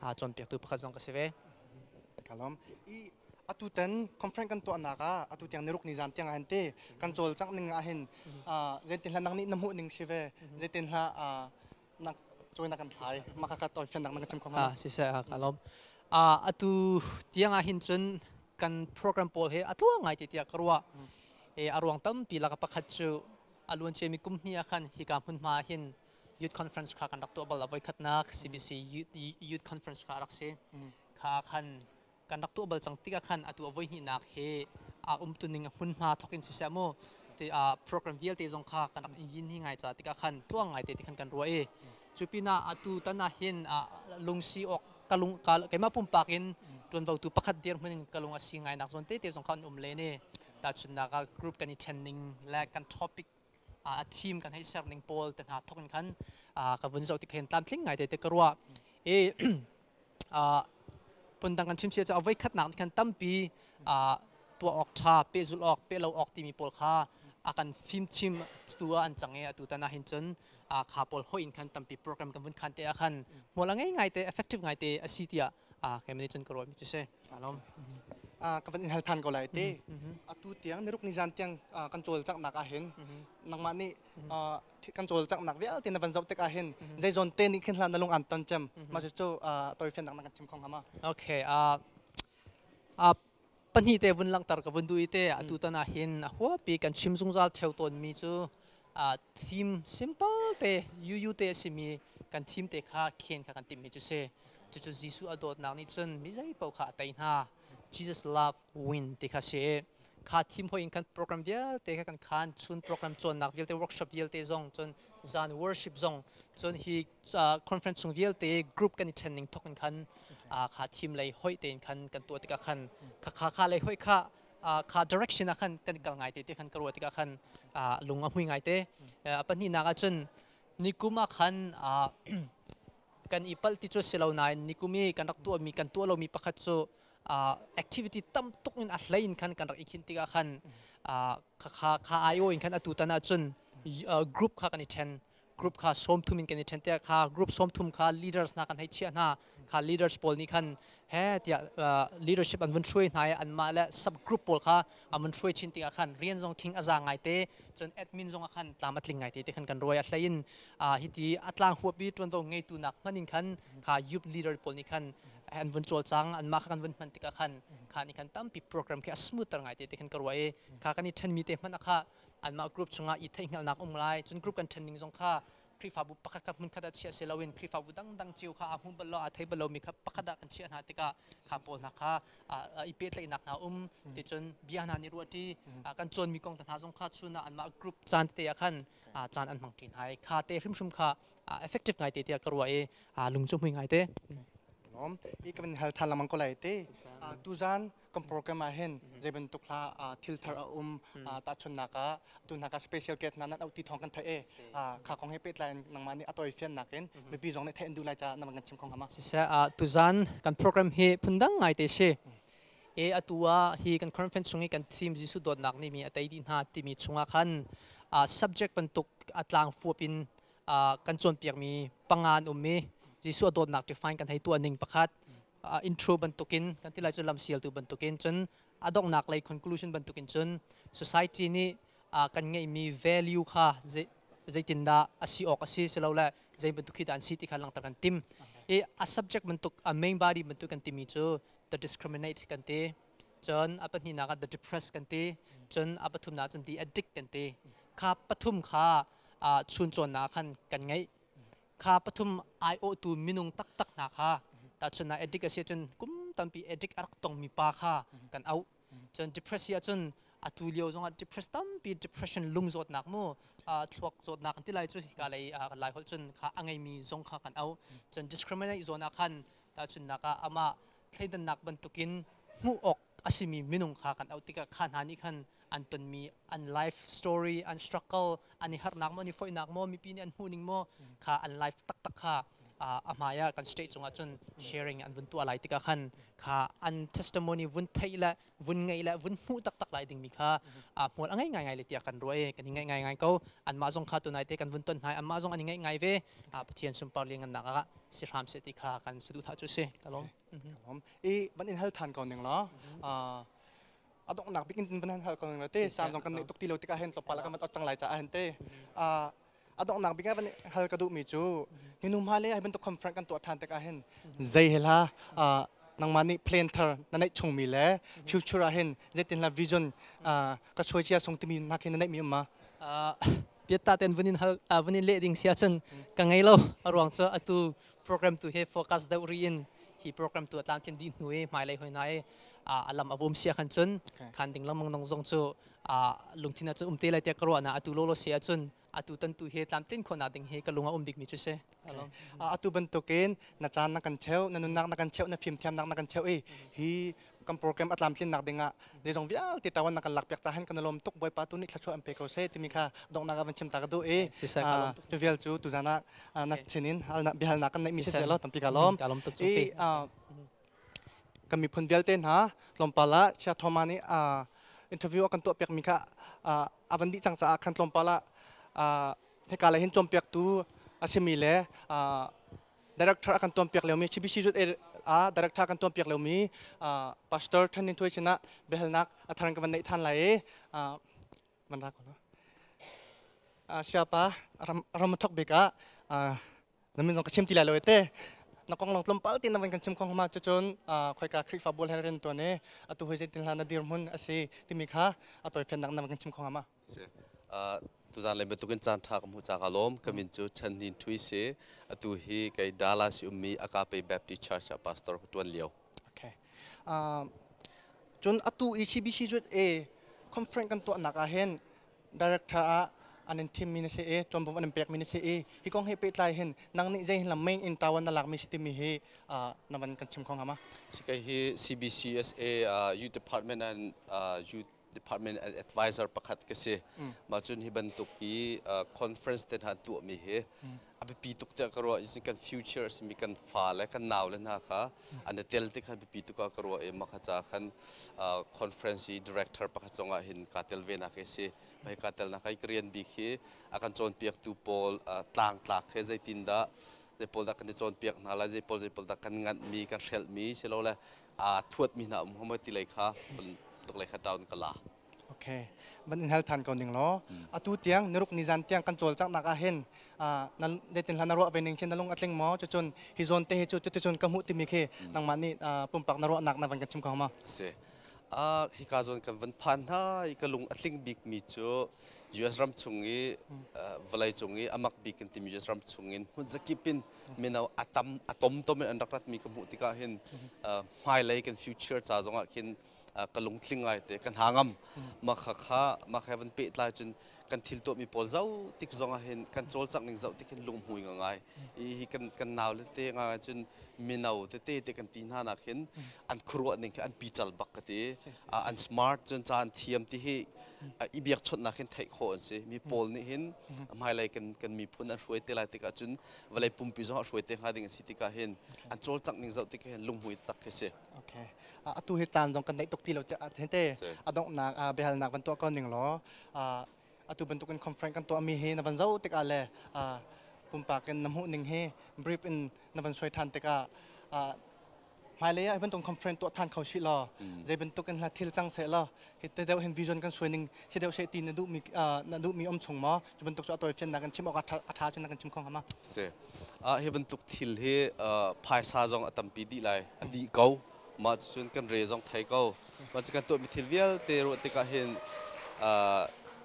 a cawnpiaktu pakhat zong ka si ve. ka lawm i atu ten conference kan tuahnak ah atu tiang niruk ni zan tiang ah hin te kan cawl cang ning ah hin letin hla nak nih na hmuh ning si ve letin hla nak cawi nak kan phai ma ka ka toi fan nak na ka chim khom ha si se ka lawm a atu tiang ah hin cun kan program pawl he atluang ngai te tia karwa e aruang tampi laka pakhat chu aluan che mi kum hni akhan hika hmun ma hin youth conference kha kan rak tuah bal a voikhatnak CBC youth conference kha a rak si kha khan kan rak tuah bal cang tikah khan atu a voi hnihnak hi a umtuning a hmun hna thok in siseh mu te a program vialte zong kha kan rak yin hi ngai ca tikah khan tuang ngai te ti khan kan ruah i cu pinah atu tan ah hin lungsi awk kalung keima pumpak in ṭuanvotu pakhat dir hmun in kalung a si ngai nak zawn te te zong kha an um le ne tahchunnak ah group kan i ṭhenning le kan topic a thim kan hei ser ning pawl te hna thawk in khan ka vun zoh ti khen tlamtling ngai te te ka ruah i phundang kan chimchia cu a voi khatnak nih khan tampi tuah awk ṭha pehzulh awk pehlo awk timi pawl kha a kan fimchim tu ah an cang i atu tan ah hin cun kha pawl hoih in khan tampi program kan vun khan te ah khan hmual a ngei ngai te effective ngai te a si tiah Ah, kei nih cun ka rawimi cu si. Alom. Ah, ka van in hal than ko lai ti. Atu tiang niruk nizan tiang ah, kan cawl caknak ahhin nangmah nih ah, thi- kan cawl caknak vialte na van zoh tik ahhin zeizawn te nih khin hlan na lung aan ton cem. Ma cu cu ah, toifen nak na kan chim khong hama. Okay, uh, uh, pahnih te vun langhter ka vun duh i te atu tan ah hin huapi kan chim zungzal theo tawnmi cu theme simple te yuyu te a simi kan theme te kha khen kha kan timhmi cu si cucu Jesuh a dawtnak nih cun mi zeipaoh kha a tei hna Jesus love win ti kha si kha theme hoi in kan program vialte kha kan khan chun program cawnnak vialte workshop vialte zong cun zan worship zong cun hi conference chung vialte group kan i ṭhen ning thawk in khan kha thim lei hoih tein khan kan tuah tikah khan kha kha kha lei hoih kha kha direction ah khan kan i kal ngai te ti khan ka ruah tikah khan lung a hmui ngai te pahnihnak ah cun nikum ah khan kan i palh ti cu si lo nain nikum i kan rak tuahmi kan tuah lomi pakhat cu activity tam tuk in a hlei in khan kan rak i khin tikah khan kha kha aiawh in khan atu tan ah cun group kha kan i ṭhen group kha sawmthum in kan i ṭhen tiah kha group sawmthum kha leaders hna kan hei chiah hna kha leaders pawl nih khan he tiah uh, leadership an vun hruai hna i anmah le sub group pawl kha an vun hruai chin tikah khan rian zong thing a za ngai te cun admin zong ah khan tlam a tling ngai te te khan kan ruai a hlein uh, hiti a tlang huapi ṭuanvo ngeitu nak hman in khan kha youth leader pawl nih khan an vun cawl cang an mah kha kan vun hman tikah khan kha nih khan tampi program khi a smoother ngai te te khan ka ruai kha kan i ṭhen mi te hmanh kha anmah group chungah i theihhngalnak um lai cun group kan ṭhen ning zong kha Khrihfabu pakhat kha hmunkhat ah chiah si loin Khrihfabu dangdang cio kha a hmu bal law a thei bal lomi kha pakhat ah kan chiah hna tikah kha pawl hna kha i pehtlaihnak hna um ticun bia hna nih ruahṭi kan cawnmi kong hna zong kha chun ah anmah group caan tete ah khan caan an hmang ṭhin hai kha te hrimhrim kha effective ngai te tiah ka ruah i lung cu hmui ngai te. Hi kan hal than lamang ko lai te tuzan kan program ah hin zei bantuk hla thil thar a um tahchunnak ah tu hna ka special guest hna nan auh ti thawng kan theih e kha kong he pehtlai in nangmah nih a tawi fian nakin mipi zong nih theih in duh lai caah na kan chim kong hama siseh tuzan kan program hi phundang ngai te si e atu ah hi kan conference chung i kan team Jesuh dawtnak ni mi a tei di hna timi chungah khan subject bantuk atlang fuap in kan cawnpiak mi pangan um mi Jesuh dawtnak define kan hei tuah ning pakhat intro bantukin kan ti lai cun lamsialtu bantukin cun a donghnak lei conclusion bantukin cun society nih kan ngeihmi value kha zeitindah a si awk a si silo le zei bantuk khi dah an si ti kha langhter kan tim i a subject bantuk a main body bantuk kan timi cu the discriminate kan ti cun a pahnihnak ah the depressed kan ti cun a pathumnak cun the addict kan ti kha pathum kha chuncawnnak khan kan ngeih kha pathum aiawhtu minung taktak hna kha tahchun ah addict a si cun kum tampi addict a rak tongmi pa kha kan auh cun depress hi ahcun atu lio zongah depress tampi depression lung zawtnak mu thluak zawtnak ti lai cu hika lei lai holh cun kha a ngeimi zong kha kan auh cun discriminate zawn ah khan tahchunnak ah amah thleidannak bantukin hmuh awk a simi minung kha kan auh tikah kha hna nih khan an tonmi an life story an struggle an i harnak maw an i foihnak maw mipi nih an hmuhning maw kha an life taktak kha a hmai ah kan state cungah cun sharing an vun tuah lai tikah khan kha an testimony vun theih le vun ngei le vun hmuh taktak lai dingmi kha hmual a ngei ngai ngai le tiah kan ruah i kan i ngaih ngai ngai ko anmah zong kha tunai te kan vun ton hna anmah zong an i ngaih ngai ve pathian sunpar liangannak ah si hram se ti kha kan saduhthah cu si ka lawm hom i van in hal than ko ning la a donghnak bik in van han hal ko ning la te san zong kan nei tuk ti lo tikah hen to pala kan mat cang lai caah hen te a donghnak bik van hal ka duh mi cu hinum ha le hai bantuk conference kan tuah than tikah hen zei hela nangma nih plan thar na neih chung mi le future ah hin zeitin la vision ka choi chia sung timi nak hin na neih mi ma piatta ten vunin hal vunin le ding sia chun ka ngei lo aruang chu atu program tu he focus deuh ri in hi program tu a tlamtlin dih hnu i hmailei hoi na i a lam a vum sia khan cun khan ding lengmang nong zong cu lungthin cun um te lai tiah ka ruah na atu lolo se ah cun atu tan tu he tlamtlin khona ding hi ka lung a um bik mi cu se atu bantukin na caan na kan cheu na nunnak na kan cheu na fimthiamnak na kan cheu i hi kan program a tlamtlinnak dingah zeizong vialte tawan kan lakpiak ta hen kan i lawm tuk bawipa tu nih thlachuah an pe ko seh timi kha donghnak ah van chim ta ka duh i tu vial cu tuzan ah na sinin biahalnak kan neihmi si sia lo tampi ka lawm i kan miphun vialte hna tlawmpal ah chia thoma nih interview a kan tuahpiakmi kha a van dih cang caah khan tlawmpal ah hika le hin cawmpiaktu a simi le director akan tuan piak liomi CBCZ ah director kan tuan piak liomi pastor Thanin Thuai sinah biahalnak a thar ka van neih than lai i man ra ko siapa ram thok beka na min ka chim ti lai lo te na kong long tlom pal tin na van kan chim kong ma chu chun khoi ka khrifa bol her ren to ne atu hoi zetin hla na dir mun asi timi kha atoi fen nak na kan chim kong ma Si. Uh, tuzaan len bantukin caan ṭha ka hmuh cak a lawm. Ka min cu Chan Nin Thui si. Atu hi kei Dallas i ummi Agape Baptist Church ah pastor ka ṭuan lio. Okay. Uh, cun atu i CBC Zut e conference kan tuahnak ah hin director ah an in thimmi na se e tuanbom an in pekmi na se e hi kong he pehtlai hin nang nih zei lam main in tawan na lakmi si timi hi uh, navan kan chim khong hama si kai hi CBCSA uh, youth department and uh, youth department advisor pakhat ka si mah cun hi bantuk hi conference te hna tuahmi hi a biapi tuk tiah ka ruah in kan future simi kan fa le kan nau le hna kha an i tel ti khan biapi tuk ka ruah i mah kha ca khan conference i director pakhat cungah hin kaa tel ve nak hi si hi kaa tel nak hi ka rian bik hi a kan cawnpiaktu pawl tlang tlak he zeitin dah zei pawl dah kan i cawnpiak hna lai zei pawl zei pawl dah kan nganhmi kan hrelhmi si lo le aa thuatmi hna um homa ti lei kha tuk lei kha town ka la ok van in hal than ko ning law atu tiang naruk ni zan tiang kan cawlcanghnak ah hin nan detin hlan na ruah ve ning chin na lung atling maw cucun hi zon te hi cu cuticun ka hmuh timi khi nangmah nih pumpak na ruahnak na van kan chim ko ma si a hi ka zon kan van phan hna i ka lung atling bik mi cu US ram chung i vawlei cung i amak bik kan timi US ram chung in hmun zakip in mino a tam a tomtom in an rak ratmi ka hmuh tikah hin hmailei kan future ca zongah khin ka lungtling ngai te ka hna ngam mah kha kha mah he van pehtlai cun kan thil tuahmi pawl zoh tik zongah hin kan cawlcangh ning zoh tik hin lunghmui nga ngai hi kan kan nau le te ngai cun mino tete te kan ti hna nak hin an khuruah ning an pical bak ka ti an smart cun ca an thiam ti hi i biakchawnhnak hin theih khawh an si mi pawl nih hin hmailei kan kan miphun an hruai te lai tikah cun vawlei pumpi zong ah hruai te hnga ding an si tikah hin an cawlcangh ning zoh tikah hin lunghmui tak khi si Okay. Uh, atu hi tlan zong kan daih tuk ti lo hente a donghnak uh, biahalnak van tuah ko ning law uh, atu bantukin conference kan tuah mi hi na van zo tikah le uh, pumpak in na hmuh ning hi brief in na van soi than tikah uh, hmailei ah bantuk conference tuah than kho shi law mm. zei bantuk in hla thil cang se law hi te deuh hin vision kan suai ning thi deuh she ti na duh mi na duh mi om chung ma cu bantuk chu atoi fian na kan chim ok atha chu na kan chim khong hama se a hi bantuk thil hi phaisa zong atampi di lai adi ko ma cun kan re zong thai ko ma kan to mi thil vialte ro te ka hin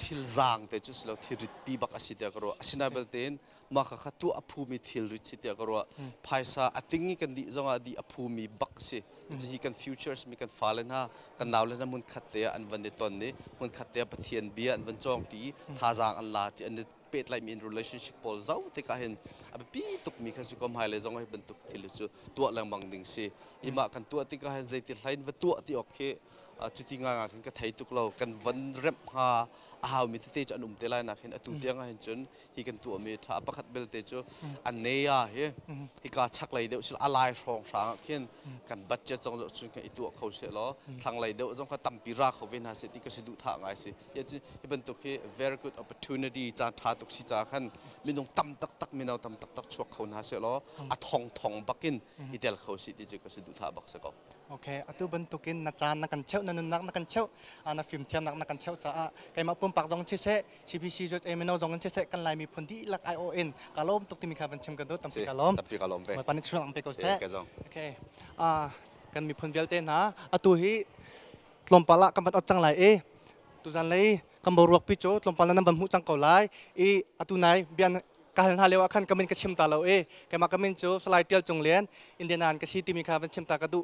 thil zang te chu slo thil rit pi bak asi te ka ro asinai belte in maka kha tuah a phumi thilri si tiah ka ruah hmm. phaisa a ting i kan dih zongah dih a phumi bak si hmm. hi kan futures mi kan fale hna kan naule hna mun khat te ah an van i ton ni mun khat te ah pathian bia an van chawng ti hmm. thazaang an la ti an pet lai mi in relationship pawl zau te ka hin a pi tuk mi kha si kom hai le zong hai bantuk thil cu tuah lengmang ding si ima kan tuah ti ka hin zeiti hlain va tuah ti ok khi cuti nga nga khin ka thei tuk lo kan van rem ha a hau mi tete an um te lai na khin atu tiang hin cun hi kan tuahmi tha a pakhat belte cu a neya hi hika chaklei deuh sila a lai hrawng hrang ah khin kan budget zong zoh cun kan i tuah kho seh law thlanglei deuh zong kha tampi ra kho ve hna seh ti ka si duh tha ngai si hi hi bantuk hi very good opportunity caan tha tuk si ca khan minung tam taktak mino tam taktak chuak kho hna seh law a thong thong bakin i tel kho si ti cu ka si duh tha bak se ko Okay, atu bantukin na caan na kan cheuh na nunnak na kan cheuh na fimthiamnak na kan cheuh caah keimah pumpak zong si seh CPCJA mino zong in siseh kan Lai miphun dihlak ai awh in ka lawm tuk timi kha van chim kan duh tampi ka lawm tampi ka lawm ve pan chuang lampe ko seh okay kan miphun vialte hna atu hi tlawmpal ah kan van ot cang lai i tuzan lei kan bo ruak pi cu tlawmpal nan van hmuh cang ko lai i atu nai bian ka hal hna leo ah khan kamin ka chim ta lo i keimah kamin cu salai tial cung lian indian an ka si timi kha van chim ta ka duh